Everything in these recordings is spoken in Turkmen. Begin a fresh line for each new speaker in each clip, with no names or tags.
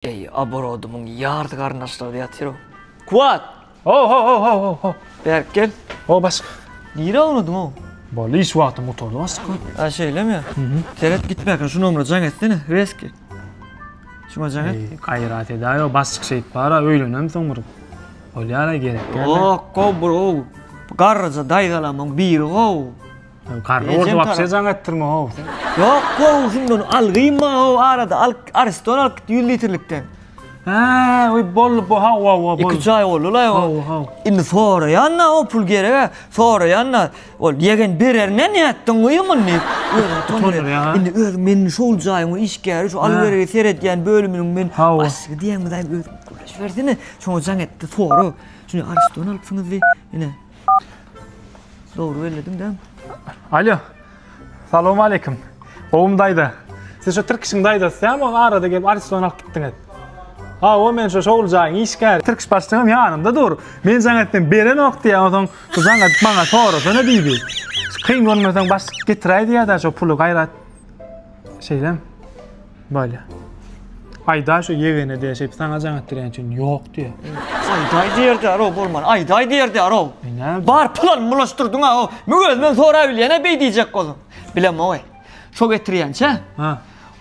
Eý, oborodymyň ýarty garyndaşlary-da ýatyr-ow. Kuwat! Ho-ho-ho-ho-ho-ho!
Bärik gel.
Ho, başga.
Nirä unudyň-ow?
Boldy, iş wagtym
gutardy, başga. A, şeýlemi?
Seret, gitmäkä şu nomera jaň etsene, rezki. Şuňa jaň et. Gaýrat edäý-ow,
başlyk şeýt bar-a, öýlenem soň bir. Bolýar-a, gerek däl-le. Ýok-ow, bro.
Garryja daýzalamyň biri-ow. Garry orda
wapse jaň etdirme how sen. Ýok gowy
şunda ony al gynma how arada al ariston alyp git ýüz litrlikden. Hä
we bolly bu how how bolly. Iki çaý bolly la ýa.
How how. Indi soraýanda o pul gerek-ä soraýanda ol ýegen bererine nätdiň goýum ony diýip özüni utandyryp.
Indi öz meniň şol
jaýyň işgäri şu al beregi seredýän bölüminiň men başlygy diýen bilen özüň gürleşibersene şoňa jaň etdi sora şuny ariston alypsyňyz diý ine. Dogry bellediň dämi? Alo.
Salam aleýkum. Gowum daýza. Siz şu Tirkişiň daýzasy dämi? Ol arada gelip Ariston alyp gitdiňiz. Ha, o men şu şowul jaýyň işgäri. Tirkiş başlygym ýanymda dur. Men jaň etdim, berenok diýýä. Onsoň şu jaň edip maňa sorasana diýdi. Kyn görmeseň başlyk getiräý diýýä-dä şu puly gaýrat. Şeýlem. Bolýa. Aýda şu ýegene diýe şeýip saňa jaň etdirýän üçin ýok diýe. Aýdaý diýerdi
aro bolman. Aýdaý diýerdi aro. Bar pulan bulaşdyrdyň a o. Men özümden sorap bilýän-ä beý diýjek bolsam. Bilem oý. Şo getirýänçä. Ha.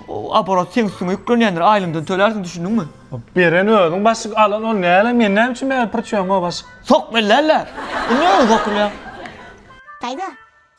O aborot
seň üstüňe ýüklenýändir. Aýlymdan tölärsiň düşündiňmi? Beren özüň
başyk alan ol näle men näme üçin bäri pyrçyýam o başyk. Sok bellärler.
Indi öň sokulýar. Aýda.